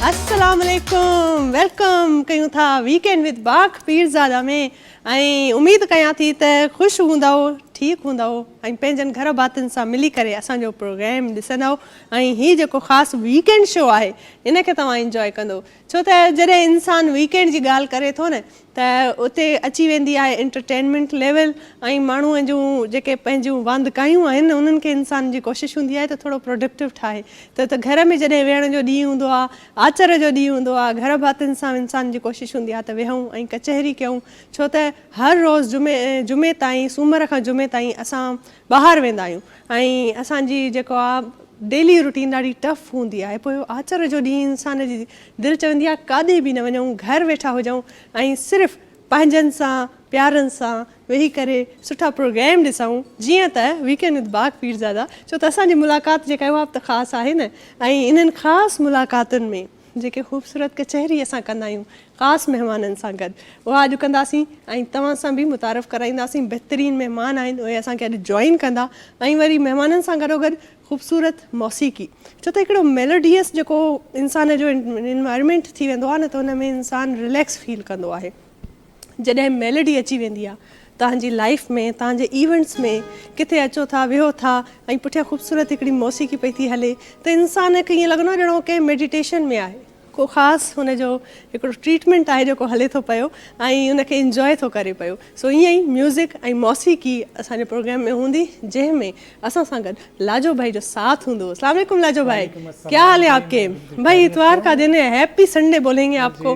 السلام عليڪم ويلڪم ڪيون ٿا ويڪ اينڊ وٿ باغ پيرزاده ۾ ۽ اميد ڪيان ٿي ته خوش هوندؤ ٺيڪ هوندؤ ۽ پنهنجن گهر ڀاتين سان ملي ڪري اسان جو پروگرام ڏسندؤ ۽ هي جيڪو خاص ويڪ اينڊ شو آهي ان کي توهان انجوائي ڪندو ڇو ته جڏهن انسان ويڪينڊ جي ڳالهه ڪري ٿو نه ته اتي اچي ويندي آهي انٽرٽينمينٽ ليول ۽ ماڻهو جون جيڪي پنهنجون واندڪايون آهن انهن کي انسان جي ڪوشش هوندي آهي ته ٿورو پروڊڪٽو ٺاهي ته ته گهر ۾ جڏهن ويهڻ جو ڏينهن هوندو آهي آچر جو ڏينهن هوندو آهي گهر ڀاتين سان انسان جي ڪوشش هوندي آهي ته ويهون ۽ ڪچهري ڪيون ڇو ته هر روز جمعي جمعي تائين سومر کان جمعي تائين اسان ٻاهر ويندا آهيون ۽ اسان جي جيڪو آ ڊيلي روٽين ڏاڍي ٽف هوندي آهي پوء آچر جو ڏينهن انسان جي دل چوندي آهي ڪاڏي به نه وڃون گهر ويٺا هجون ۽ صرف پنهنجن سان پيارن سان ويهي ڪري سٺا پروگرام ڏسون جيئن ته ويڪينڊ وٿ باغ پيرزادا ڇو ته اسان جي ملاقات جيڪا آهي اها به ته خاص آهي نه ۽ انهن خاص ملاقاتن ۾ جيڪي خوبصورت ڪچهري اسان ڪندا آهيون خاص مهمانن سان گڏ اها اڄ ڪنداسين ۽ توهان سان به متعارف ڪرائينداسين بهترين مهمان آهن اهي اسان کي اڄ جوائن ڪندا ۽ وري مهمانن سان گڏوگڏ خوبصورت موسيقي ڇو ته هڪڙو ميلوڊيس جيڪو انسان جو انوائرمينٽ ٿي ويندو آهي نه ته ان ۾ انسان رليڪس فيل ڪندو آهي. جڏهن ميلڊي اچي ويندي آ توهان جي لائيف ۾ توهان جي ايونٽس ۾ ڪٿي اچو ٿا ويهو ٿا ۽ پٺيان خوبصورت هڪڙي موسيقي پئي ٿي هلي ته انسان کي ائين لڳندو آ ڄڻ هو ڪنهن ميڊيٽيشن ۾ آهي ڪو خاص هن جو هڪڙو ٽريٽمينٽ آهي جيڪو هلي ٿو پيو ۽ ان کي انجوائي ٿو ڪري پيو سو ائين ئي ميوزڪ ۽ موسيقي اسان جي پروگرام ۾ هوندي جنهن ۾ اسان سان گڏ لاجو ڀائي جو ساٿ هوندو السلام عليڪم لاجو ڀائي ڪيا حال هي آپ ڪي ڀائي اتوار ڪا دن هي هيپي سنڊي بولينگي آپ ڪو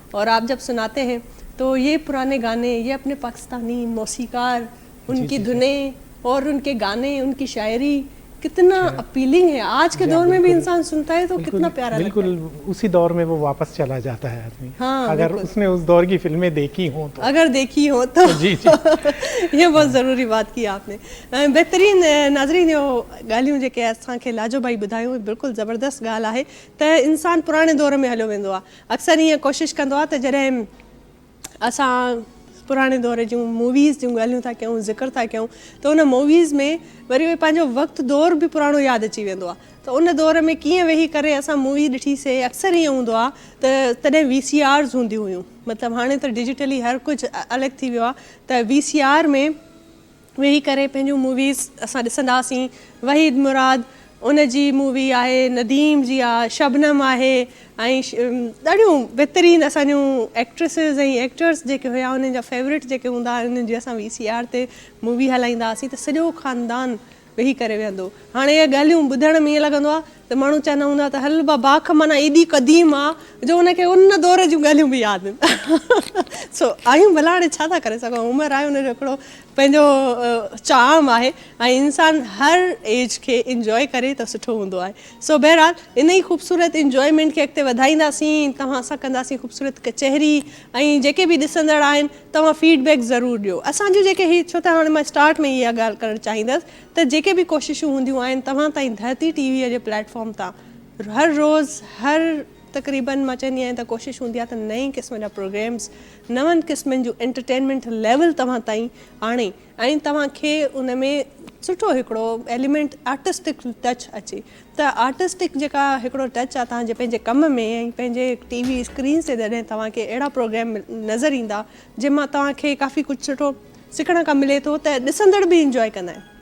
اور آپ جب سناتي هين تو يه پراني گاني يه اپني پاڪستاني موسيقار ان ڪي ڌنين اور ان ڪي گاني ان ڪي شاعري ڪتنا اپيلنگ هي آج ڪي دور مي بي انسان سنتا هي تو ڪتنا پيارا لگتا هي بلڪل اسي دور مي وو واپس چلا جاتا هي آدمي اگر اس ني اس دور ڪي فلمي ديکي هون تو اگر ديکي هون تو جي جي يه بهت ضروري بات ڪي آپ ني بهترين ناظرين يو ڳالهيون جيڪي اسان کي لاجو ڀائي ٻڌايون بلڪل زبردست ڳالهه آهي ته انسان پراڻي دور مي هليو ويندو آهي اڪثر ائين ڪوشش ڪندو آهي ته جڏهن اسان پراڻي دور جون موويز جون ڳالهيون ٿا ڪيون ذڪر ٿا ڪيون ته ان موويز ۾ وري اهي پنهنجو وقت دور به پراڻو ياد اچي ويندو آهي ته ان دور ۾ ڪيئن ويهي ڪري اسان مووي ڏٺي سي اڪثر ائين هوندو آهي ته تڏهن وي سي آرز هونديون هيون مطلب هاڻي ته ڊجيٽلي هر ڪجهه الڳ ٿي ويو آهي ته وي سي آر ۾ ويهي ڪري پنهنجون موويز اسان ڏسنداسين وحيد مراد ان جي مووي آهي نديم جي آ شبنم آهي ۽ ڏاڍيون بھترين اسان جون ايڪٽريسز ۽ ايڪٽرس جيڪي هيا انهن جا فيورٽ جيڪي هوندا هئا انهن جي اسان وي سي آر تي مووي هلائيندا هئاسين ته سڄو خاندان ويهي ڪري ويهندو هاڻي اهي ڳالهيون ٻڌڻ ۾ ائين لڳندو آ ته ماڻهو چوندا هوندا ته هل با باک معنيٰ ايڏي قديم آ جو ان کي ان دور جون ڳالهيون به ياد سو آهيون ڀلا هاڻي ڇا ٿا ڪري سگهون عمر آهي ان جو هڪڙو پنهنجو چام آهي ۽ انسان هر ايج کي انجوء ڪري ته سٺو هوندو آهي سو بهرحال ان ئي خوبصورت انجوءمينٽ کي اڳتي وڌائينداسين توهان سان ڪنداسين خوبصورت ڪچهري ۽ جيڪي به ڏسندڙ آهن توهان فيڊ بيڪ ضرور ڏيو اسان جون جيڪي هي ڇو ته هاڻي مان اسٽارٽ ۾ ئي اها ڳالهه ڪرڻ چاهيندس ته جيڪي به ڪوششون هونديون آهن توهان تائين ڌرتي ٽي ويء جي پليٽ فارم تان هر روز هر تقريبن مان چوندي آهيان ته ڪوشش هوندي آهي ته نئين قسم جا پروگريمز نون قسمن جون انٽرٽينمينٽ ليول توهان تائين آڻي ۽ توهان کي ان ۾ سٺو هڪڙو ايليمينٽ آرٽسٽڪ ٽچ اچي ته آرٽسٽڪ جيڪا هڪڙو ٽچ آهي توهان جي پنهنجي ڪم ۾ ۽ پنهنجي ٽي وي اسڪرينز تي جڏهن توهان کي اهڙا پروگريم نظر ايندا جنهن مان توهان کي ڪافي ڪجهه سٺو سکڻ کان ملي ٿو ته ڏسندڙ به انجوائي ڪندا آهن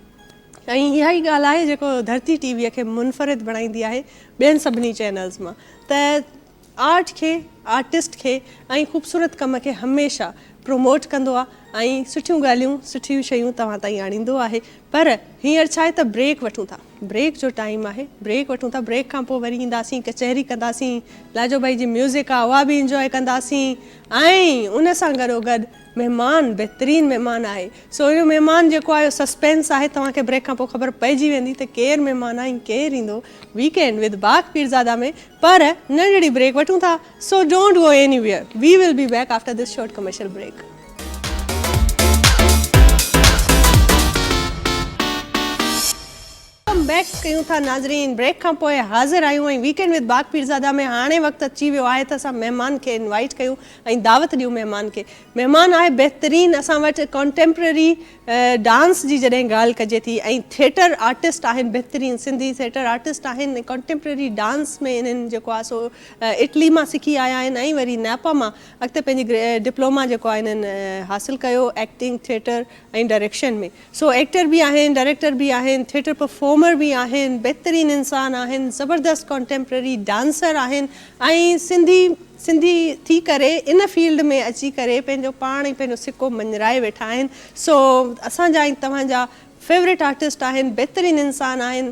۽ اها ئي ڳالهه آهي جيڪو ڌرتي ٽي وي کي منفرد بڻائيندي آهي ٻين سڀني چينلز مان ته آرٽ کي آرٽسٽ کي ۽ خوبصورت ڪم کي هميشه پروموٽ ڪندو آهي ۽ سٺيون ڳالهيون سٺيون شيون توهان تائين آڻيندو آهي پر هينئر ڇا آهي ته بريڪ وٺون ٿا بريڪ جو ٽائيم آهي بريڪ وٺون ٿا بريڪ کان پوء وري اينداسين ڪچهري ڪنداسين لاجو ڀائي جي ميوزڪ آهي اها به انجوائي ڪنداسين ۽ ان سان گڏو گڏ مهمان بهترين مهمان آهي. سهڻو مهمان جيڪو آهي اهو سسپينس آهي توهان کي بريڪ کان پوء خبر پئجي ويندي ته ڪير مهمان آهي ۽ ڪير ايندو ويڪ اينڊ وٿ باغ پيرزاده ۾ پر ننڍڙي بريڪ وٺون ٿا so don't go anywhere we will be back after this short commercial break. Welcome back ڪيون ٿا ناظرين بريڪ کان پوء حاضر آهيون ۽ ويڪينڊ وٿ باغ پيرزاده ۾ هاڻي وقت اچي ويو آهي ته اسان مهمان کي انوائيٽ ڪيون ۽ دعوت ڏيون مهمان کي مهمان آهي بهترين اسان وٽ ڪانٽيمپرري ڊانس جي جڏهن ڳالهه ڪجي ٿي ۽ ٿيٽر آرٽسٽ آهن بهترين سنڌي ٿيٽر آرٽسٽ آهن ڪانٽيمپرري ڊانس ۾ انهن جيڪو آهي سو اٽلي مان سکي آيا آهن ۽ وري نيپا مان اڳتي پنهنجي ڊپلوما جيڪو آهي انهن حاصل ڪيو acting theatre ۽ direction ۾ so actor به آهن ڊائريڪٽر به آهن ٿيٽر پرفارمر به آهن بهترين انسان آهن زبردست ڪانٽيمپرري ڊانسر آهن ۽ سنڌي سنڌي ٿي ڪري ان فيلڊ ۾ اچي ڪري پنهنجو پاڻ ۽ پنهنجو سڪو مڃرائي ويٺا آهن سو اسان جا ۽ توهان جا فيورٽ آرٽسٽ آهن بهترين انسان آهن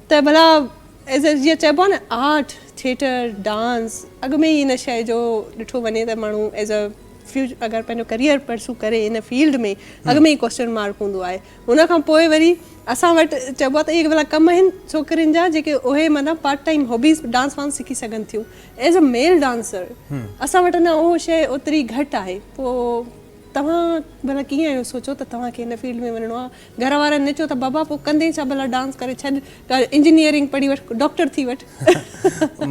ته ڀلا جيئن چئبو آهي نه آرٽ ٿيٽر ڊانس اڳ ۾ ئي ان شيء جو ڏٺو وڃي ته ماڻهو ايز اي فيوچر اگر پنهنجو ڪريئر پرسو ڪري ان فيلڊ ۾ اڳ ۾ ئي ڪوشچن مارڪ هوندو آهي ان کان پوء وري اسان وٽ چئبو آهي ته اهي ڀلا ڪم آهن ڇوڪرين جا جيڪي اهي مطلب پارٽ ٽائيم هابيز ڊانس وانس سکي سگهن ٿيون ايز اي ميل ڊانسر اسان وٽ اڃا اهو شيء اوتري گهٽ آهي پوء توهان ڀلا ڪيئن اهو سوچيو ته توهان کي ان فيلڊ ۾ وڃڻو آهي گهر وارن ني چيو ته بابا پوء ڪندين ڇا ڀلا ڊانس ڪري ڇڏ انجنيئرنگ پڙهي وٺ ڊاڪٽر ٿي وٺ.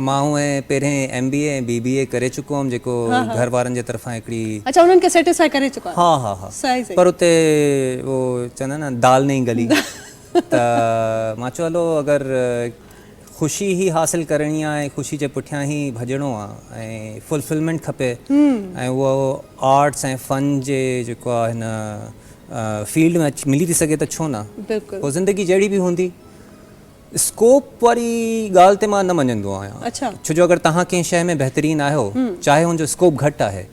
مان هونء پهرين ايم بي اي ۽ بي بي اي ڪري چڪو هئم جيڪو گهر وارن جي طرفان هڪڙي. اڇا انهن کي سيٽسفائي ڪري چڪا هئا. ها ها ها پر اتي اهو چوندا آهن نه دال نهين گلي ته مان چيو هلو اگر خوشي هي حاصل ڪرڻي آهي ۽ خوشي جي پٺيان هي ڀڄڻو آهي ۽ فلفلمينٽ کپي ۽ اهو آرٽس ۽ فن جي جيڪو آهي نه فيلڊ ۾ ملي ٿي سگهي ته ڇو نه؟ پوء زندگي جهڙي به هوندي. اسڪوپ واري ڳالهه تي مان نه مڃندو آهيان. ڇو جو اگر توهان ڪنهن شيء ۾ بهترين آهيو، چاهي ان جو اسڪوپ گهٽ آهي،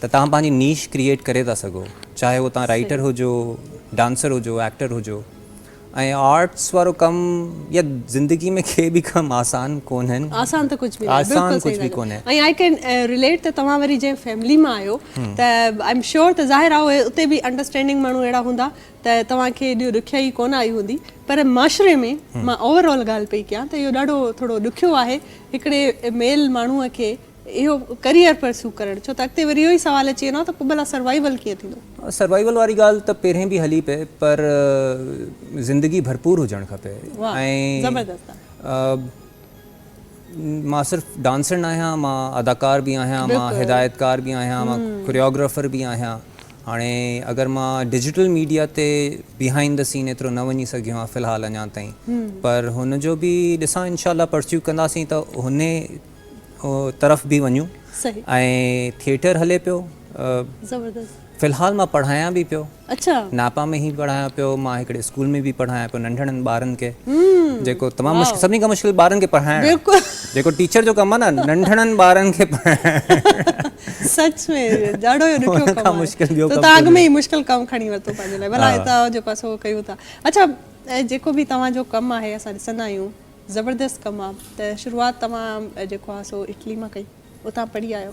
ته توهان پنهنجي نيش ڪريئيٽ ڪري ٿا سگهو. چاهي اهو توهان رائيٽر هجو، ڊانسر هجو، ايڪٽر هجو. ۽ آرٽس وارو ڪم يا زندگي ۾ ڪي به ڪم آسان ڪونهن. آسان ته ڪجهه به ناهي. آسان ڪجهه به ڪونهي. ۽ آئي ڪين رليٽ ته توهان وري جنهن فيملي مان آهيو ته آئي ايم شيور ته ظاهر آهي اتي به انڊرسٽينڊنگ ماڻهو اهڙا هوندا ته توهان کي ايڏيو ڏکيائي ڪونه آئي هوندي پر معاشري ۾ مان اوور آل ڳالهه پئي ڪيان ته اهو ڏاڍو ٿورو ڏکيو آهي هڪڙي ميل ماڻهو کي اهو ڪريئر پرسيو ڪرڻ ڇو ته اڳتي وري اهو ئي سوال اچي ويندو ته پوء ڀلا سروائيول ڪيئن ٿيندو؟ سروائيول واري ڳالهه ته پهرين به هلي پئي پر زندگي ڀرپور هجڻ کپي ۽ مان صرف ڊانسر نه آهيان مان اداڪار به آهيان مان هدايتڪار به آهيان مان ڪوريوگرافر به آهيان هاڻي اگر مان ڊجيٽل ميڊيا تي بيهائنڊ دي سين ايترو نه وڃي سگهيو آهيان في الحال اڃا تائين پر هن جو به ڏسان انشاء الله پرسيو ڪنداسين ته هن طرف به وڃون ۽ ٿيٽر هلي پيو زبردست في الحال مان پڙهايان به پيو اچھا ناپا ۾ هي پڙهايان پيو مان هڪڙي اسڪول ۾ به پڙهايان پيو ننڍڙن ٻارن کي جيڪو تمام مشڪل سڀني کان مشڪل ٻارن کي پڙهائڻ بلڪل جيڪو ٽيچر جو ڪم آهي نه ننڍڙن ٻارن کي پڙهائڻ سچ ۾ ڏاڍو جو ڏکيو ڪم آهي مشڪل ٻيو ڪم تاڳ ۾ مشڪل ڪم کڻي ورتو پنهنجي لاء ڀلا هتا جو پاسو ڪيو ٿا اچھا جيڪو به توهان جو ڪم آهي اسان ڏسندا آهيون زبردست ڪم آ ته شروعات توهان جيڪو آ سو اٽلي مان ڪئي اتان پڙهي آيو.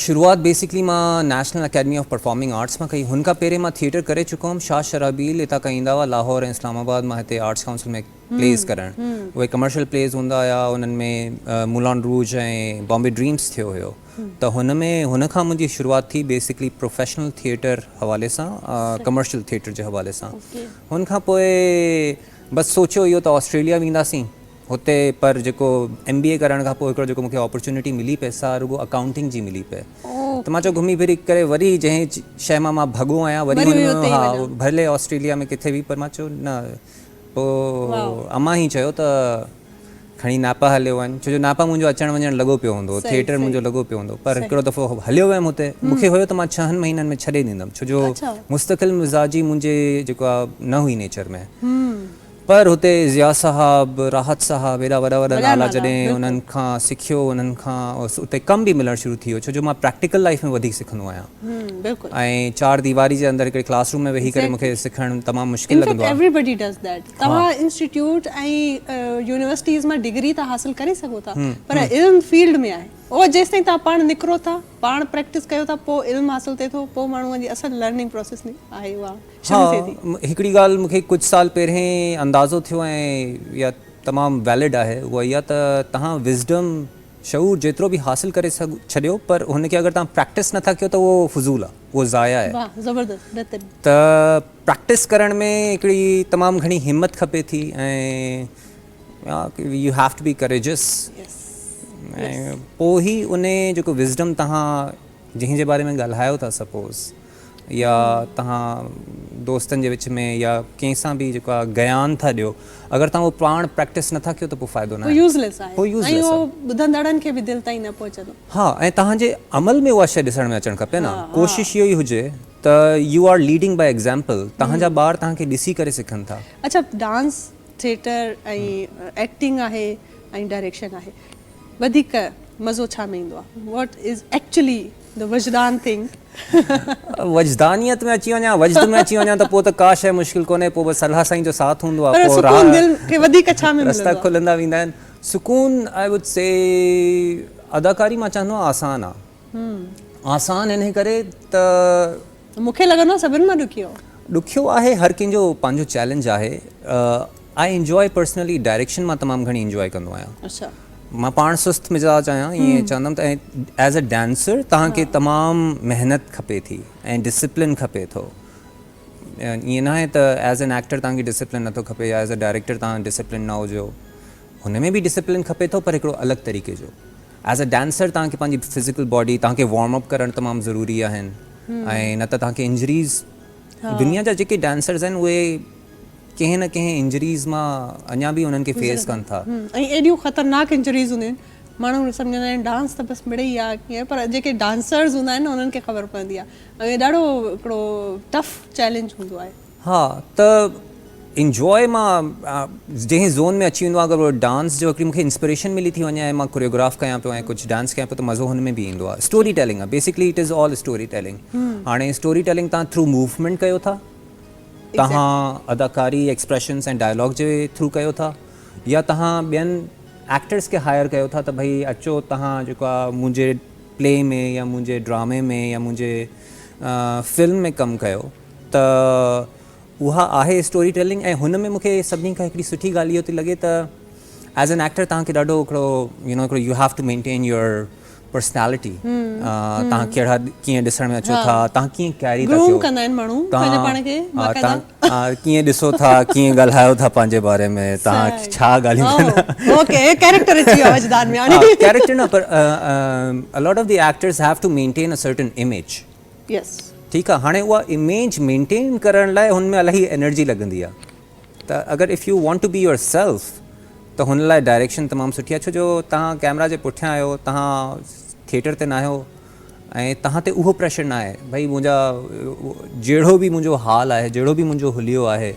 شروعات بيسڪلي مان National Academy of Performing Arts مان ڪئي هن کان پهرين مان ٿيئٽر ڪري چڪو هئم شاهه شرحبيل هتان کان ايندا هئا لاهور ۽ اسلام آباد مان هتي آرٽس ڪائونسل ۾ پليز ڪرڻ اهي ڪمرشل پليز هوندا هيا انهن ۾ مولان روج ۽ بامبي ڊريمس ٿيو هيو ته هن ۾ هن کان منهنجي شروعات ٿي بيسڪلي پروفيشنل ٿيئٽر حوالي سان ڪمرشل ٿيئٽر جي حوالي سان هن کان پوء بس سوچيو اهو ته آسٽريليا وينداسين هتي پر جيڪو ايم بي اي ڪرڻ کان پوء هڪڙو جيڪو مونکي اپرچونيٽي ملي پئي سا رڳو اڪائونٽنگ جي ملي پئي ته مان چيو گهمي ڦري ڪري وري جنهن شئي مان مان ڀڳو آهيان وري وري اتي ئي وڃان. هان ڀلي آسٽريليا ۾ ڪٿي به پر مان چيو نه پوء واء. امان هي چيو ته کڻي ناپا هليو وڃ، ڇو جو ناپا منهنجو اچڻ وڃڻ لڳو پيو هوندو، ٿيئٽر منهنجو لڳو پيو هوندو، پر هڪڙو دفعو هليو ويم هتي، مون کي هيو ته مان ڇهن مهينن ۾ ڇڏي ڏيندم، ڇو جو مستقل مزاجي منهنجي جيڪو آ نه هئي نيچر ۾، پر هتي ضياء صاحب، راحت صاحب هيڏا وڏا وڏا نالا جڏهن انهن کان سکيو، انهن کان اتي ڪم به ملڻ شروع ٿي ويو، ڇو جو مان پريڪٽيڪل لائيف ۾ وڌيڪ سکندو آهيان. بلڪل ۽ چار ديواري جي اندر هڪڙي ڪلاس روم ۾ ويهي ڪري مون کي سکڻ تمام مشڪل لڳندو آهي. توهان انسٽيٽيوٽ ۽ يونيورسٽيز مان ڊگري ته حاصل ڪري سگهو ٿا پر علم فيلڊ ۾ آهي اهو جيستائين توهان پاڻ نڪرو ٿا پاڻ پريڪٽس ڪيو ٿا پوء علم حاصل ٿئي ٿو پوء ماڻهوء جي اصل لرننگ پروسيس آهي اها شروع ٿئي ٿي. ها هڪڙي ڳالهه مون کي ڪجهه سال پهرين اندازو ٿيو ۽ اها تمام ويلڊ آهي اها اها ته توهان وزڊم شعور جيترو به حاصل ڪري ڇڏيو پر هن کي اگر توهان پريڪٽس نٿا ڪيو ته اهو فضول آهي اهو ضايع آهي. واھ زبردست بهترين. ته پريڪٽس ڪرڻ ۾ هڪڙي تمام گهڻي همت کپي ٿي ۽ you have to be courageous ۽ پوء هي انهي جيڪو وزڊم توهان جنهن جي باري ۾ ڳالهايو ٿا سپوز يا تهان دوستن جي وچ ۾ يا ڪنهن سان به جيڪو آهي گيان ٿا ڏيو اگر تهان اهو پاڻ پريڪٽس نٿا ڪيو ته پوء فائدو ناهي. هو يوز ليس آهي ۽ اهو ٻڌندڙن کي به دل تائين نه پهچندو. ها ۽ تهان جي عمل ۾ اها شيء ڏسڻ ۾ اچڻ کپي نه ڪوشش اهو ئي هجي ته you are leading by example تهان جا ٻار تهان کي ڏسي ڪري سکن ٿا. اڇا ڊانس ٿيٽر ۽ ايڪٽنگ آهي ۽ ڊائريڪشن آهي وڌيڪ مزو ڇا ۾ ايندو آهي واٽ از ايڪچلي. The وجدان thing. وجدانيت ۾ اچي وڃان وجد ۾ اچي وڃان ته پوء ته ڪا شيء مشڪل ڪونهي پوء بس الله سائين جو ساٿ هوندو آهي پوء راهه رستا کلندا ويندا آهن سڪون آء وڊ سي اداڪاري مان چهندو آهيان آسان آهي آسان انهي ڪري ته مون کي لڳندو آهي سڀن مان ڏکيو. ڏکيو آهي هر ڪنهن جو پنهنجو چئلينج آهي آء انجوائي پرسنلي ڊائريڪشن مان تمام گهڻي انجوائي ڪندو آهيان اڇا مان پاڻ سست مزاج آهيان ائين چوندم ته ايز اي ڊانسر توهان کي تمام محنت کپي ٿي ۽ ڊسپلن کپي ٿو ائين ناهي ته ايز اين ايڪٽر توهان کي ڊسپلن نٿو کپي يا ايز اي ڊائريڪٽر توهان ڊسپلن نه هجو هن ۾ به ڊسپلن کپي ٿو پر هڪڙو الڳ طريقي جو As a Dancer توهان کي پنهنجي Physical Body توهان کي Warm Up ڪرڻ تمام ضروري آهن ۽ نه ته توهان کي Injuries دنيا جا جيڪي Dancers آهن اهي ڪنهن نه ڪنهن Injuries مان اڃا به انهن کي Face ڪن ٿا. ۽ ايڏيون خطرناڪ Injuries هونديون آهن ماڻهو سمجهندا آهن Dance ته بس مڙئي آهي ڪيئن پر جيڪي Dancers هوندا آهن نه انهن کي خبر پوندي آهي ۽ ڏاڍو هڪڙو Tough Challenge هوندو آهي. ها ته انجواء مان جنهن زون ۾ اچي ويندو آهيان اگر ڊانس جو هڪڙي مون کي انسپريشن ملي ٿي وڃي ۽ مان ڪوريوگراف ڪيان پيو ۽ ڪجهه ڊانس ڪيان پيو ته مزو هن ۾ به ايندو آهي اسٽوري ٽيلنگ آهي basically it is all storytelling هاڻي اسٽوري ٽيلنگ تان ٿرو موومينٽ ڪيو ٿا تهان اداڪاري ايڪسپريشنس ۽ ڊائلاگ جي ٿرو ڪيو ٿا يا تهان ٻين ايڪٽرس کي هائر ڪيو ٿا ته ڀئي اچو تهان جيڪو آهي منهنجي پلي ۾ يا منهنجي ڊرامي ۾ يا منهنجي فلم ۾ ڪم ڪيو ته اها آهي اسٽوري ٽيلنگ ۽ هن ۾ مون کي سڀني کان هڪڙي سٺي ڳالهه اهو ٿي لڳي ته ايز اين ايڪٽر تهان کي ڏاڍو هڪڙو يو نو هڪڙو you have to maintain your personality تهان ڪهڙا ڪيئن ڏسڻ ۾ اچو ٿا تهان ڪيئن ڪيري ٿا ٿيو تهان ڪيئن ڏسو ٿا ڪيئن ڳالهايو ٿا پنهنجي باري ۾ تهان ڇا ڳالهيون ڪيريڪٽر نه پر a lot of the actors have to maintain a certain image yes. ٺيڪ آ هاڻي اها اميج مينٽين ڪرڻ لاء هن ۾ الاهي انرجي لڳندي آ ته اگر if you want to be yourself ته هن لاء ڊائريڪشن تمام سٺي آ ڇو جو تهان ڪيمرا جي پٺيان آهيو تهان ٿيٽر تي ناهيو ۽ تهان تي اهو پريشر ناهي ڀئي منهنجا جهڙو به منهنجو حال آهي جهڙو به منهنجو حليو آهي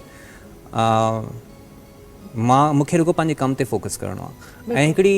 مان مونکي رڳو پنهنجي ڪم تي فوڪس ڪرڻو آ ۽ هڪڙي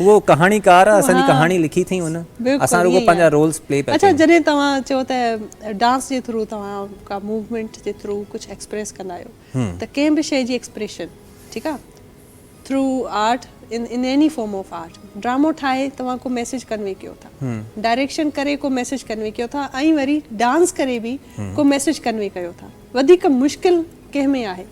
اهو ڪهاڻيڪار اسان جي ڪهاڻي لکي ٿئي ان اسان رڳو پنهنجا رولز پلي پيا ڪيون. اڇا جڏهن توهان چئو ته ڊانس جي ٿرو توهان ڪا موومينٽ جي ٿرو ڪجهه ايڪسپريس ڪندا آهيو ته ڪنهن به شيء جي ايڪسپريشن ٺيڪ آ through art in any form of art ڊرامو ٺاهي توهان ڪو ميسيج ڪنوي ڪيو ٿا ڊائريڪشن ڪري ڪو ميسيج ڪنوي ڪيو ٿا ۽ وري ڊانس ڪري به ڪو ميسيج ڪنوي ڪيو ٿا وڌيڪ مشڪل ڪنهن ۾ آهي؟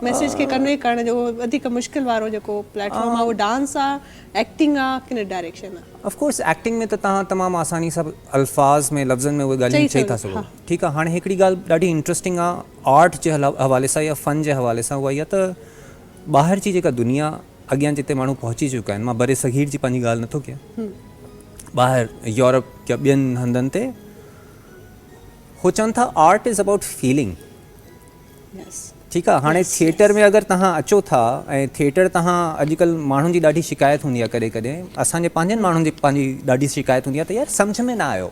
ميسيج کي ڪنوي ڪرڻ جو وڌيڪ مشڪل وارو جيڪو پليٽ فارم آهي اهو ڊانس آهي ايڪٽنگ آهي ڪنهن ڊائريڪشن آهي. اف ڪورس ايڪٽنگ ۾ ته تهان تمام آساني سان الفاظ ۾ لفظن ۾ اهي ڳالهيون چئي ٿا سگهو ٺيڪ آهي هاڻي هڪڙي ڳالهه ڏاڍي انٽرسٽنگ آهي آرٽ جي حوالي سان يا فن جي حوالي سان اها اها ته ٻاهر جي جيڪا دنيا اڳيان جتي ماڻهو پهچي چڪا آهن مان برصغير جي پنهنجي ڳالهه نٿو ڪيان ٻاهر يورپ يا ٻين هنڌن تي هو چون ٿا آرٽ از ابائوٽ فيلنگ ٺيڪ آ هاڻي ٿيٽر ۾ اگر تهان اچو ٿا ۽ ٿيٽر تهان اڄڪلهه ماڻهن جي ڏاڍي شڪايت هوندي آ ڪڏهن ڪڏهن اسان جي پنهنجن ماڻهن جي پنهنجي ڏاڍي شڪايت هوندي آ ته يار سمجهه ۾ نه آيو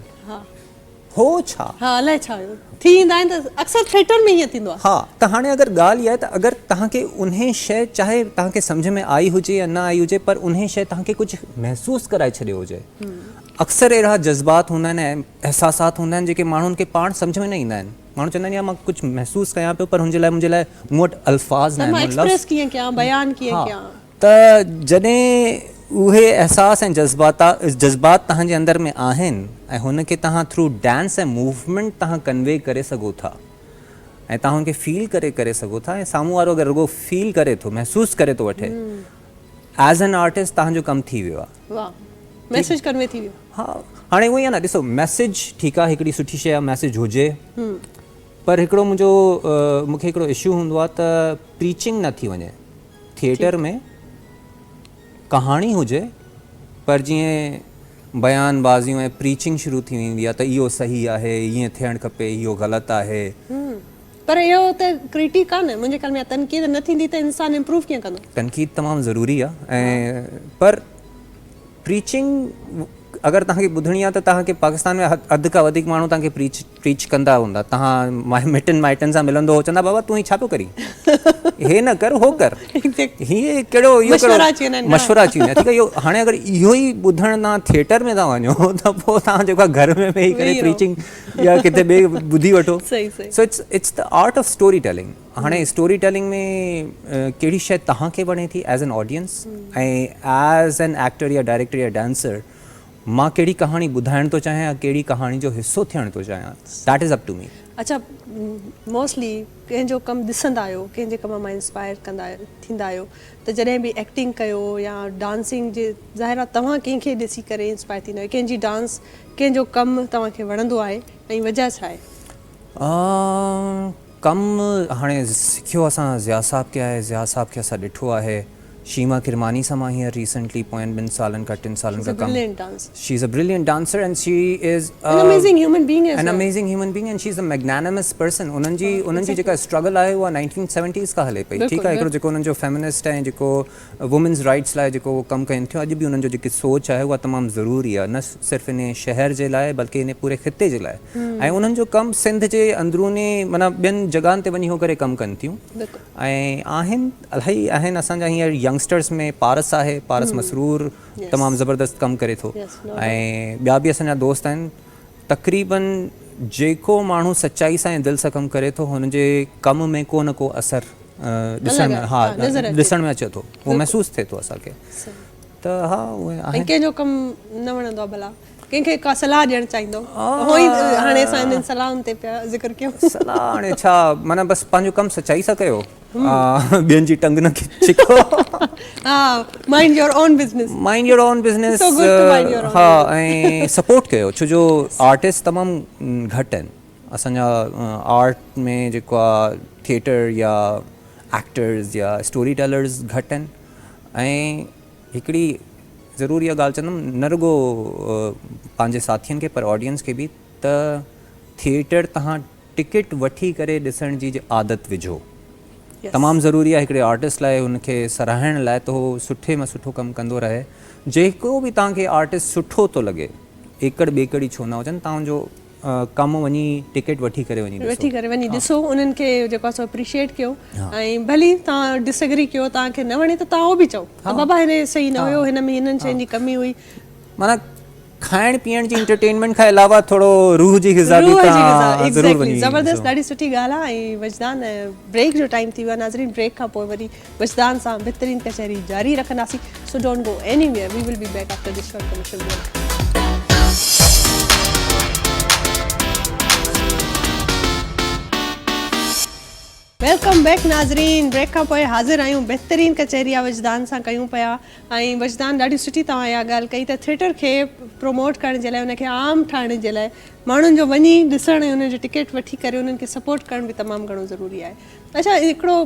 هو ڇا ها الائي ڇا هيو ٿي ايندا آهن ته اڪثر ٿيٽر ۾ هيئن ٿيندو آ ها ته هاڻي اگر ڳالهه اها آهي ته اگر تهان کي انهي شي چاهي تهان کي سمجهه ۾ آئي هجي يا نه آئي هجي پر انهي شي تهان کي ڪجهه محسوس ڪرائي ڇڏيو هجي اڪثر اهڙا جذبات هوندا آهن ۽ احساسات هوندا آهن جيڪي ماڻهن کي پاڻ سمجهه ۾ نه ايندا آهن ماڻهو چوندا آهن يار مان ڪجهه محسوس ڪيان پيو پر هن جي لاء منهنجي لاء مون وٽ الفاظ ناهن مون لفظ ته مان ايڪسپريس ڪيئن ڪيان بيان ڪيئن ڪيان. ته جڏهن اهي احساس ۽ جذبات توهان جي اندر ۾ آهن ۽ هن کي توهان ٿرو ڊانس ۽ موومينٽ توهان ڪنوي ڪري سگهو ٿا ۽ توهان هن کي فيل ڪري ڪري سگهو ٿا ۽ سامهون وارو اگر رڳو فيل ڪري ٿو محسوس ڪري ٿو وٺي ايز اين آرٽسٽ توهان جو ڪم ٿي ويو آهي. واھ ميسج ڪنوي ٿي ويو. ها هاڻي اونئي آ نه ڏسو ميسج ٺيڪ آ هڪڙي سٺي شي آ ميسج هجي پر هڪڙو منهنجو مونکي هڪڙو اشو هوندو آ ته پريچنگ نه ٿي وڃي ٿيٽر ۾ ڪهاڻي هجي پر جيئن بيان بازيون ۽ پريچنگ شروع ٿي ويندي آ ته اهو صحيح آهي ائين ٿيڻ کپي اهو غلط آهي پر اهو ته ڪرٽيڪ آ نه. منهنجي خيال ۾ اها تنقيد نه ٿيندي ته انسان امپروو ڪيئن ڪندو. تنقيد تمام ضروري آ ۽ پر پريچنگ اگر توهان کي ٻڌڻي آ ته توهان کي پاڪستان ۾ اڌ کان وڌيڪ ماڻهو توهان کي پريچ پريچ ڪندا هوندا توهان مٽن مائٽن سان ملندو هو چوندا بابا تون هي ڇا پيو ڪرين هي نه ڪر هو ڪر هي ڪهڙو اهو ڪهڙو مشورا اچي ويندا آهن مشورا اچي ويندا آهن ٺيڪ آ اهو هاڻي اگر اهو ئي ٻڌڻ توهان ٿيٽر ۾ ٿا وڃو ته پوء توهان جيڪو آ گهر ۾ ويهي ڪري پريچنگ يا ڪٿي ٻئي ٻڌي وٺو صحيح صحيح so it's it's the art of storytelling هاڻي اسٽوري ٽيلنگ ۾ ڪهڙي شي توهان کي وڻي ٿي as an audience ۽ as an actor يا ڊائريڪٽر يا ڊانسر مان ڪهڙي ڪهاڻي ٻڌائڻ ٿو چاهيان يا ڪهڙي ڪهاڻي جو حصو ٿيڻ ٿو چاهيان that is up to me اڇا موسٽلي ڪنهن جو ڪم ڏسندا آهيو ڪنهن جي ڪم مان انسپائر ڪندا ٿيندا آهيو ته جڏهن به ايڪٽنگ ڪيو يا ڊانسنگ جي ظاهر آهي توهان ڪنهن کي ڏسي ڪري انسپائر ٿيندا آهيو ڪنهن جي ڊانس ڪنهن جو ڪم توهان کي وڻندو آهي ۽ وجهه ڇا آهي؟ ڪم هاڻي سکيو اسان ضياء صاحب کي آهي، ضياء صاحب کي اسان ڏٺو آهي، شيما ڪرماني سان مان هينئر ريسينٽلي پوين ٻن سالن کان ٽن سالن کان ڪم she is a brilliant dancer and she is an amazing human being an amazing human being and she is a magnanimous person انهن جي انهن جي جيڪا اسٽرگل آهي اها نائنٽين سيونٽيز کان هلي پئي ٺيڪ آهي هڪڙو جيڪو انهن جو فيمنسٽ ۽ جيڪو وومينز رائيٽس لاء جيڪو اهو ڪم ڪين ٿيون اڄ به انهن جو جيڪي سوچ آهي اها تمام ضروري آهي نه صرف انهي شهر جي لاء بلڪه انهي پوري خطي جي لاء ۽ انهن جو ڪم سنڌ جي اندروني معنيٰ ٻين جڳهن تي وڃي هو ڪري ڪم ڪن ٿيون ۽ آهن الاهي آهن اسان جا هينئر ينگسٽرز ۾ پارس آهي پارس مسرور تمام زبردست ڪم ڪري ٿو ۽ ٻيا به اسان جا دوست آهن تقريباً جيڪو ماڻهو سچائي سان ۽ دل سان ڪم ڪري ٿو هن جي ڪم ۾ ڪو نه ڪو اثر ڏسڻ ۾ ها ڏسڻ ۾ اچي ٿو اهو محسوس ٿئي ٿو اسان کي ته ها اهي آهن ڪنهن جو ڪم نه وڻندو آهي ڀلا ڪنهن کي ڪا صلاح ڏيڻ چاهيندو اهو ئي هاڻي اسان هنن صلاحن تي پيا ذڪر ڪيون صلاح هاڻي ڇا معنيٰ بس پنهنجو ڪم سچائي سان ڪيو ٻين جي ٽنگ نه ڇڪو mind your own business mind your own business ها ۽ سپورٽ ڪيو ڇو جو آرٽسٽ تمام گهٽ آهن اسان جا آرٽ ۾ جيڪو آهي ٿيئٽر يا ايڪٽرز يا اسٽوري ٽيلرز گهٽ آهن ۽ هڪڙي ضروري اها ڳالهه چوندم نه رڳو پنهنجي ساٿين کي پر آڊينس کي به ته ٿيئٽر تهان ٽڪيٽ وٺي ڪري ڏسڻ جي عادت وجهو تمام ضروري آهي هڪڙي آرٽسٽ لاء ان کي سراهڻ لاء ته هو سٺي مان سٺو ڪم ڪندو رهي جيڪو به توهان کي آرٽسٽ سٺو ٿو لڳي ايڪڙ ٻيڪڙ ئي ڇو نه هجن توهان جو ڪم وڃي ٽڪيٽ وٺي ڪري وڃي ڏسو وٺي ڪري وڃي ڏسو انهن کي جيڪو آهي سو اپريشيئيٽ ڪيو ۽ ڀلي توهان ڊس ايگري ڪيو توهان کي نه وڻي ته توهان اهو به چئو ته بابا هن صحيح نه هيو هن ۾ هنن شين جي ڪمي هئي معنيٰ کائڻ پيئڻ جي انٽرٽينمينٽ کان علاوه ٿورو روح جي غذا به روح جي غذا تان ضرور ايگزيڪٽلي وڃي زبردست ڏاڍي سٺي ڳالهه آهي ۽ وجدان بريڪ جو ٽائيم ٿي ويو آهي ناظرين بريڪ کان پوء وري وجدان سان بھترين ڪچهري جاري رکنداسين so don't go anywhere we will be back after this short commercial break welcome back ناظرين بريڪ کان پوء حاضر آهيون بهترين ڪچهري يا وجدان سان ڪيون پيا ۽ وجدان ڏاڍي سٺي توهان اها ڳالهه ڪئي ته ٿيٽر کي پروموٽ ڪرڻ جي لاء ان کي عام ٺاهڻ جي لاء ماڻهن جو وڃي ڏسڻ ۽ انهن جو ٽڪيٽ وٺي ڪري انهن کي سپورٽ ڪرڻ به تمام گهڻو ضروري آهي اڇا هڪڙو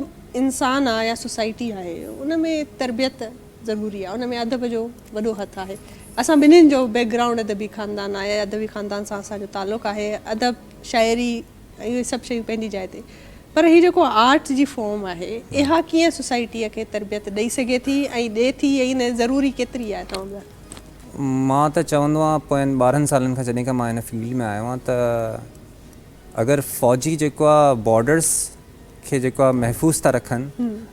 انسان آهي يا سوسائٽي آهي ان ۾ تربيت ضروري آهي ان ۾ ادب جو وڏو هٿ آهي اسان ٻنهين جو بيڪ گرائونڊ ادبي خاندان آهي ادبي خاندان سان اسان جو تعلق آهي ادب شاعري اهي سڀ شيون پنهنجي جاء تي پر هي جيڪو آرٽ جي فارم آهي اها ڪيئن سوسائٽيء کي تربيت ڏئي سگهي ٿي ۽ ڏي ٿي ۽ ان ضروري ڪيتري آهي توهان لاء؟ مان ته چوندو آهيان پوين ٻارهن سالن کان جڏهن کان مان ان فيلڊ ۾ آيو آهيان ته اگر فوجي جيڪو آهي بارڊرس کي جيڪو آهي محفوظ ٿا رکن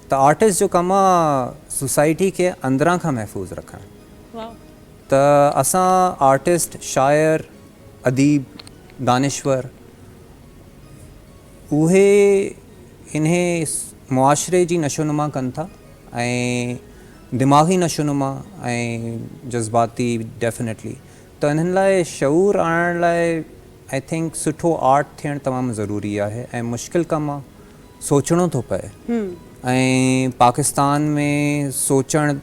ته آرٽسٽ جو ڪم آهي سوسائٽي کي اندران کان محفوظ رکڻ ته اسان آرٽسٽ شاعر اديب دانشور اهي انهي معاشري جي نشونما ڪن ٿا ۽ دماغي نشونما ۽ جذباتي ڊيفنيٽلي ته انهن لاء شعور آڻڻ لاء آئي ٿنڪ سٺو آرٽ ٿيڻ تمام ضروري آهي ۽ مشڪل ڪم آهي سوچڻو ٿو پئي ۽ پاڪستان ۾ سوچڻ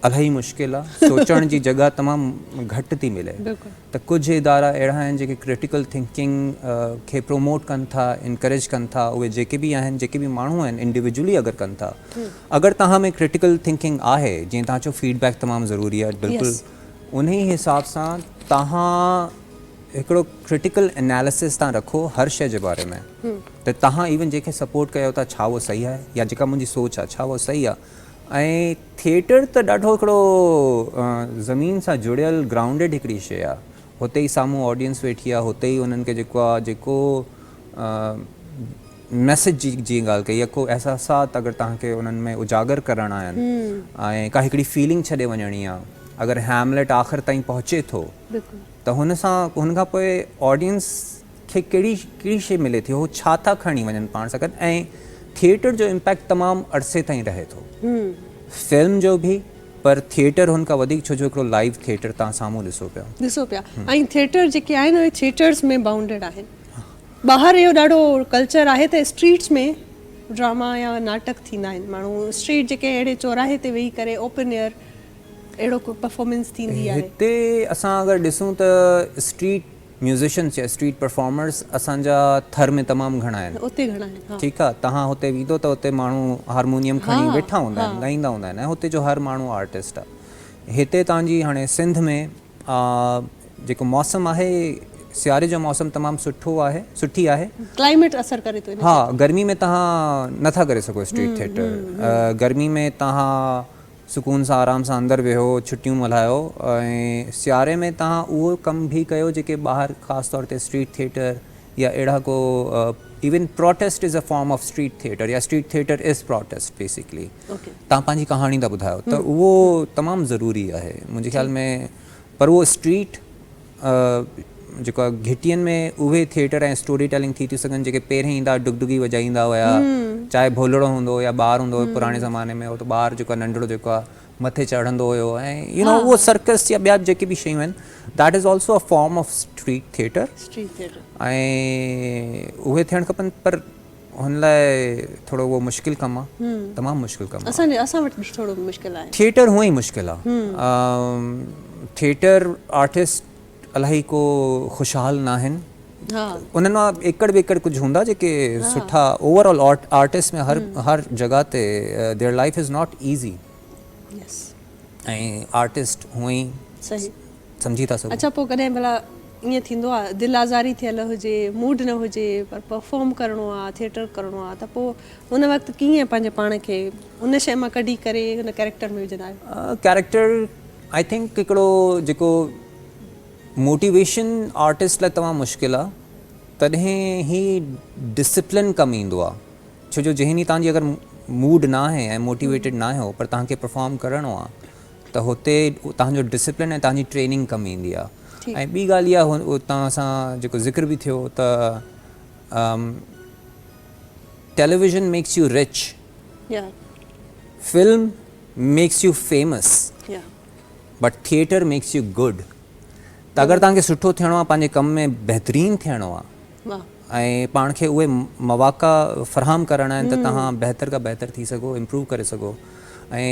الاهي مشڪل آ سوچڻ جي جڳهه تمام گهٽ ٿي ملي ته ڪجهه ادارا اهڙا آهن جيڪي ڪرٽيڪل ٿنڪنگ کي پروموٽ ڪن ٿا انڪريج ڪن ٿا اهي جيڪي به آهن جيڪي به ماڻهو آهن انڊيوڊيولي اگر ڪن ٿا اگر توهان ۾ ڪرٽيڪل ٿنڪنگ آهي جيئن توهان چيو فيڊ بيڪ تمام ضروري آهي بلڪل انهي حساب سان توهان هڪڙو ڪرٽيڪل اناليسز تان رکو هر شي جي باري ۾ ته توهان ايون جيڪي سپورٽ ڪيو ٿا ڇا اهو صحيح آهي يا جيڪا منهنجي سوچ آهي ڇا اهو صحيح آهي ۽ ٿيٽر ته ڏاڍو هڪڙو زمين سان جڙيل گرائونڊيڊ هڪڙي شيء آ هتي ئي سامهون آڊينس ويٺي آ هتي ئي انهن کي جيڪو آ جيڪو ميسج جي جيئن ڳالهه ڪئي يا ڪو احساسات اگر توهان کي انهن ۾ اجاگر ڪرڻا آهن ۽ ڪا هڪڙي فيلنگ ڇڏي وڃڻي آ اگر هيملٽ آخر تائين پهچي ٿو ته هن سان هن کان پوء آڊينس کي ڪهڙي ڪهڙي شيء ملي ٿي هو ڇا ٿا کڻي وڃن پاڻ سان گڏ ۽ ٿيئٽر جو امپيڪٽ تمام عرصي تائين رهي ٿو فلم جو به پر ٿيئٽر هن کان وڌيڪ ڇو جو هڪڙو لائيو ٿيئٽر تان سامهون ڏسو پيا ڏسو پيا ۽ ٿيئٽر جيڪي آهن اهي ٿيئٽرز ۾ بائونڊيڊ آهن ٻاهر اهو ڏاڍو ڪلچر آهي ته اسٽريٽس ۾ ڊراما يا ناٽڪ ٿيندا آهن ماڻهو اسٽريٽ جيڪي اهڙي چوراهي تي ويهي ڪري اوپن ايئر اهڙو ڪو پرفارمنس ٿيندي آهي هتي اسان اگر ڏسون ته اسٽريٽ ميوزيشنز يا اسٽريٽ پرفارمرز اسان جا ٿر ۾ تمام گهڻا آهن. اتي گهڻا آهن ها. ٺيڪ آ تهان هتي ويندو ته اتي ماڻهو هارمونيم ها کڻي ويٺا هوندا آهن ها. ڳائيندا هوندا آهن ۽ هتي جو هر ماڻهو آرٽسٽ آ. هتي تهان جي هاڻي سنڌ ۾ آ جيڪو موسم آهي سياري جو موسم تمام سٺو آهي سٺي آهي. ڪلائميٽ اثر ڪري ٿو ان ها تي. گرمي ۾ تهان نه ٿا ڪري سگهو اسٽريٽ ٿيٽر. گرمي ۾ تهان. سڪون سان آرام سان اندر ويهو ڇٽيون ملهايو ۽ سياري ۾ توهان اهو ڪم به ڪيو جيڪي ٻاهر خاص طور تي اسٽريٽ ٿيٽر يا اهڙا ڪو even protest is a form of street theatre يا street theatre is protest basically توهان پنهنجي ڪهاڻي ٿا ٻڌايو ته اهو تمام ضروري آهي منهنجي خيال ۾ پر اهو اسٽريٽ جيڪو آهي گهٽين ۾ اهي ٿيئٽر ۽ اسٽوري ٽيلنگ ٿي ٿيون سگهن جيڪي پهرين ايندا هئا ڊگڊگي وڄائيندا هيا چاهي ڀولڙو هوندو هو يا ٻار هوندو هو پراڻي زماني ۾ هو ته ٻار جيڪو آهي ننڍڙو جيڪو آهي مٿي چڙهندو هيو ۽ يو نو اهو سرڪس يا ٻيا جيڪي به شيون آهن that is also a form of street theatre ۽ اهي ٿيڻ کپن پر هن لاء ٿورو اهو مشڪل ڪم آ. تمام مشڪل ڪم آ. اسان وٽ به ٿورو مشڪل آهي. ٿيٽر هونئن ئي مشڪل آ. ٿيٽر آرٽسٽ الاهي ڪو خوشحال ناهن. انهن مان ايڪڙ ٻيڪڙ ڪجهه هوندا جيڪي سٺا اوور آل آرٽسٽ ۾ هر هر جڳهه تي their life is not easy ۽ artist هونئن ئي سمجهي ٿا سگهون. اڇا پوء ڪڏهن ڀلا ائين ٿيندو آ دل آزاري ٿيل هجي موڊ نه هجي پر پرفارم ڪرڻو آ ٿيٽر ڪرڻو آ ته پوء ان وقت ڪيئن پنهنجي پاڻ کي ان شئي مان ڪڍي ڪري ان ڪيريڪٽر ۾ وجهندا آهيو؟ ڪيريڪٽر آئي ٿنڪ هڪڙو جيڪو موٽيويشن آرٽسٽ لاء تمام مشڪل آ تڏهن هي ڊسپلن ڪم ايندو آ ڇو جو جنهن ڏينهن تهنجي اگر موڊ ناهي ۽ موٽيويٽيڊ ناهيو پر تهانکي پرفارم ڪرڻو آ ته هتي توهان جو ڊسپلن ۽ توهان جي ٽريننگ ڪم ايندي آهي ۽ ٻي ڳالهه اها توهان سان جيڪو ذڪر به ٿيو ته television makes you rich film makes you famous but theatre makes you good ته اگر توهان کي سٺو ٿيڻو آهي پنهنجي ڪم ۾ بهترين ٿيڻو آهي ۽ پاڻ کي اهي مواقع فراهم ڪرڻا آهن ته توهان بهتر کان بهتر ٿي سگهو امپروو ڪري سگهو ۽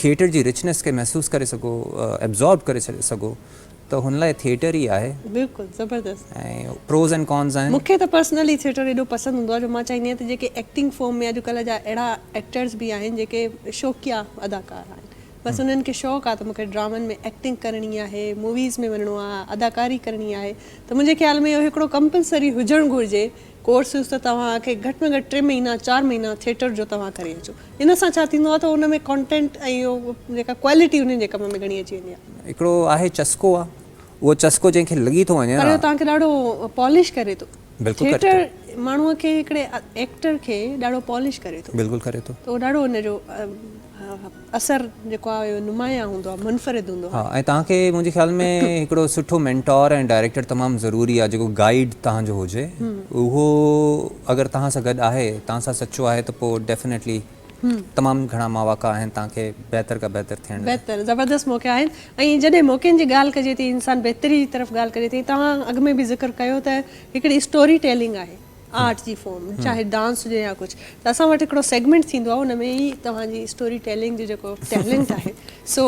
ٿيئٽر جي رچنيس کي محسوس ڪري سگهو ابزارب ڪري سگهو ته هن لاء ٿيئٽر ئي آهي بلڪل زبردست ۽ پروز ۽ ڪونز آهن. مون کي ته پرسنلي ٿيئٽر ايڏو پسند هوندو آهي جو مان چاهيندي آهيان ته جيڪي ايڪٽنگ فورم ۾ اڄ ڪلهه جا اهڙا ايڪٽرز به آهن جيڪي شوقيا اداڪار آهن بس انهن کي شوق آ ته مونکي ڊرامن ۾ ايڪٽنگ ڪرڻي آهي موويز ۾ وڃڻو آ اداڪاري ڪرڻي آهي ته منهنجي خيال ۾ اهو هڪڙو ڪمپلسري هجڻ گهرجي ڪورسز ته توهان کي گهٽ ۾ گهٽ ٽي مهينا چار مهينا ٿيٽر جو توهان ڪري اچو ان سان ڇا ٿيندو آ ته ان ۾ ڪانٽينٽ ۽ جيڪا ڪوالٽي انهن جي ڪم ۾ گهڻي اچي ويندي آ. هڪڙو آهي چسڪو آ اهو چسڪو جنهن کي لڳي ٿو وڃي پر اهو توهان کي ڏاڍو پالش ڪري ٿو ٿيٽر ماڻهو کي هڪڙي ايڪٽر کي ڏاڍو پالش ڪري ٿو ته اهو ڏاڍو ان جو اثر جيڪو آهي اهو نمايان هوندو آهي، منفرد هوندو آهي. ها ۽ توهان کي منهنجي خيال ۾ هڪڙو سٺو مينٽور ۽ ڊائريڪٽر تمام ضروري آهي جيڪو گائيڊ توهان جو هجي اهو اگر توهان سان گڏ آهي توهان سان سچو آهي ته پوء ڊيفنيٽلي تمام گهڻا مواقع آهن توهان کي بهتر کان بهتر ٿيڻ لاء. بهتر زبردست موقعا آهن ۽ جڏهن موقعن جي ڳالهه ڪجي ٿي انسان بهتري جي طرف ڳالهه ڪجي ٿي توهان اڳ ۾ به ذڪر ڪيو ته هڪڙي اسٽوري ٽيلنگ آهي. آرٽ جي فارم چاهي ڊانس هجي يا ڪجهه ته اسان وٽ هڪڙو سيگمينٽ ٿيندو آهي ان ۾ ئي توهان جي اسٽوري ٽيلنگ جو جيڪو ٽيلنٽ آهي سو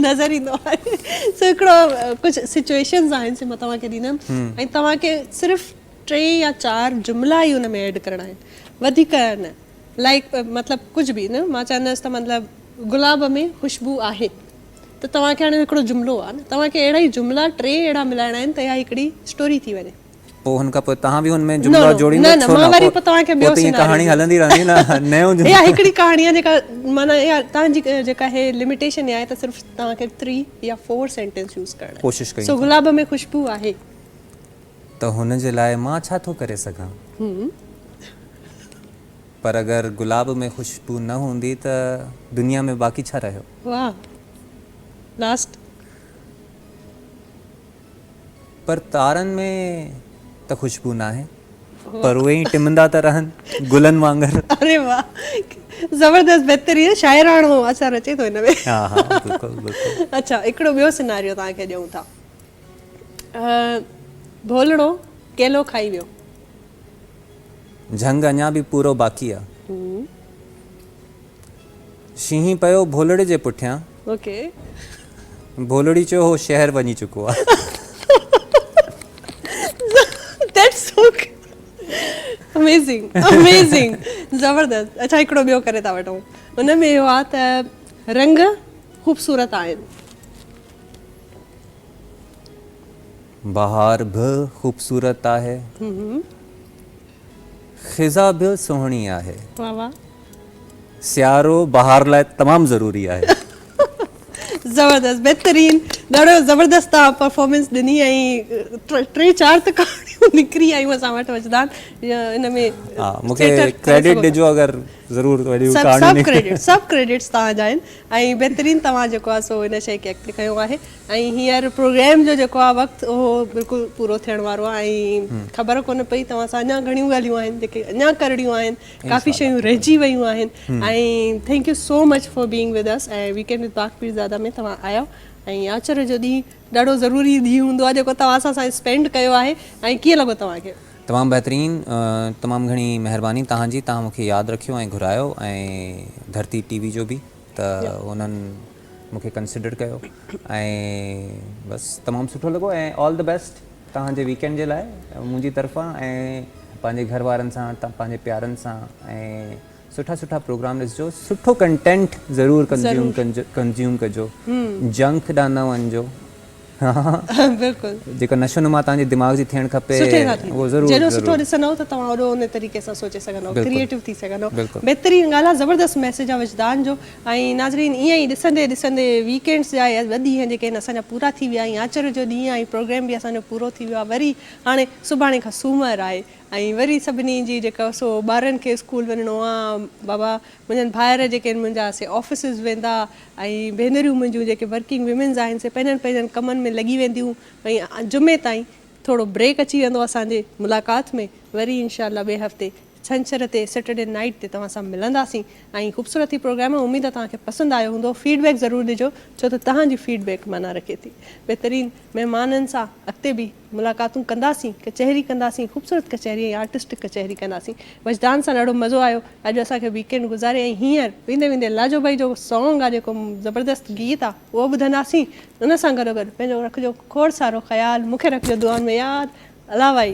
نظر ايندو آهي سو هڪڙو ڪجهه سچويشنز آهن سي مان توهان کي ڏيندم ۽ توهان کي صرف ٽي يا چار جملا ئي ان ۾ ايڊ ڪرڻا آهن وڌيڪ نه لائڪ مطلب ڪجهه به نه مان چوندس ته مطلب گلاب ۾ خوشبو آهي ته توهان کي هاڻي هڪڙو جملو آهي نه توهان کي اهڙا ئي جملا ٽي اهڙا ملائڻا آهن ته اها هڪڙي اسٽوري ٿي وڃي پوء هن کان پوء تهان به هن ۾ نو جملا نو جوڙيندا نه نه ڇو مان نه وري پوء توهان کي پوء ٻيو ته ائين سيناريو ڪهاڻي ڏيندس هلندي رهندي نه نيون اها جملا هڪڙي ڪهاڻي آهي جيڪا معنيٰ اها توهان جي جيڪا هي لميٽيشن آهي ته صرف توهان کي ٿري يا فور سينٽينس يوز ڪرڻا آهن ڪوشش ڪيون سو ٿا گلاب ۾ خوشبو آهي ته هن جي لاء مان ڇا ٿو ڪري سگهان پر اگر گلاب ۾ خوشبو نه هوندي ته دنيا ۾ باقي ڇا رهيو واه لاسٽ پر تارن ۾ ته خوشبو ناهي. پر اهي ائين ٽمندا ته رهن گلن وانگر. اري واھ زبردست بهترين شاعراڻو اثر اچي ٿو ان ۾. ها ها بلڪل بلڪل. اڇا هڪڙو ٻيو سيناريو توهان کي ڏيون ٿا. ڀولڙو ڪيلو کائي ويو. جهنگ اڃا به پورو باقي آ. شينهن پيو ڀولڙي جي پٺيان. اوڪي. ڀولڙي چيو هو شهر وڃي چڪو آ. ڌيٽس سو اميزنگ اميزنگ زبردست اچا هڪڙو ٻيو ڪري ٿا وٺون ان ۾ اهو آ ته رنگ خوبصورت آهن. بهار به خوبصورت آهي. خزا به سهڻي آهي. واھ واھ. سيارو بهار لاء تمام ضروري آهي. زبردست بهترين ڏاڍو زبردست توهان پرفارمنس ڏني ۽ ٽي چار ته ڪهاڻيون نڪري آيون اسان وٽ وجدان ان ۾ ها مونکي ڪريڊٽ ڏجو اگر ضرور وڏيون ڪهاڻيون سڀ ڪريڊٽس سڀ ڪريڊٽس توهان جا آهن ۽ بهترين توهان جيڪو آ سو ان شئي کي اڳتي کنيو آهي ۽ هينئر پروگرام جو جيڪو آهي وقت اهو بلڪل پورو ٿيڻ وارو آهي ۽ خبر ڪونه پئي توهان سان اڃا گهڻيون ڳالهيون آهن جيڪي اڃا ڪرڻيون آهن ڪافي شيون رهجي ويون آهن ۽ thank you so much for being with us ۽ weekend with پاڪ پيرزاده ۾ توهان آيا ۽ آچر جو ڏينهن ڏاڍو ضروري ڏينهن هوندو آهي جيڪو توهان سان اسان اسپينڊ ڪيو آهي ۽ ڪيئن لڳو توهان کي تمام بهترين تمام گهڻي مهرباني توهان جي توهان مون کي ياد رکيو ۽ گهرايو ۽ ڌرتي ٽي وي جو به. ته انهن مون کي ڪنسڊر ڪيو ۽ بس تمام سٺو لڳو ۽ آل دي بيسٽ توهان جي ويڪينڊ جي لاء منهنجي طرفان ۽ پنهنجي گهر وارن سان پنهنجي پيارن سان ۽ سٺا سٺا پروگرام ڏسجو سٺو ڪنٽينٽ ضرور ڪنزيوم ڪنزيوم ڪجو جنڪ ڏانهن نه وڃجو بلڪل. جيڪا نشو نما توهان جي دماغ جي ٿيڻ کپي. سٺي سان ٿيندي. اهو ضرور. جيڏو سٺو ڏسندؤ ته توهان اوڏو ان طريقي سان سوچي سگهندؤ. بلڪل. ڪريئيٽو ٿي سگهندؤ. بلڪل. بهترين ڳالهه آ زبردست ميسيج آ وجدان جو ۽ ناظرين ائين ئي ڏسندي ڏسندي ويڪينڊس جا اهي ٻه ڏينهن جيڪي آهن اسان جا پورا ٿي ويا ۽ آچر جو ڏينهن آهي پروگرام به اسان جو پورو ٿي ويو آهي وري هاڻي سڀاڻي کان سومر آهي ۽ وري سڀني جي جيڪا سو ٻارن کي اسڪول وڃڻو آ بابا منھنجن ڀائر جيڪي آھن منھنجا سي آفيسز ويندا ۽ ڀينريون منھنجيون جيڪي ورڪنگ ويمنز آھن سي پنھنجن پنھنجن ڪمن ۾ لڳي وينديون ۽ جمعي تائين ٿورو بريڪ اچي ويندو اسان جي ملاقات ۾ وري انشاء الله ٻئي ھفتي ڇنڇر تي سيٽرڊي نائيٽ تي توھان سان ملنداسين ۽ خوبصورت ھي پروگرام آ اميد آ توھان کي پسند آيو ھوندو فيڊ بيڪ ضرور ڏجو ڇو ته توھان جي فيڊ بيڪ معنيٰ رکي ٿي بھترين مھمانن سان اڳتي به ملاقاتون ڪنداسين، ڪچهري ڪنداسين، خوبصورت ڪچهري ۽ آرٽسٽڪ ڪچهري ڪنداسين. وجدان سان ڏاڍو مزو آيو اڄ اسان کي ويڪ اينڊ گذاري ۽ هينئر ويندي ويندي لاجو ڀائي جو سانگ آ جيڪو زبردست گيت آ اهو ٻڌنداسين ان سان گڏو گڏ پنهنجو رکجو کوڙ سارو خيال مون کي رکجو دعائن ۾ ياد الله ڀائي.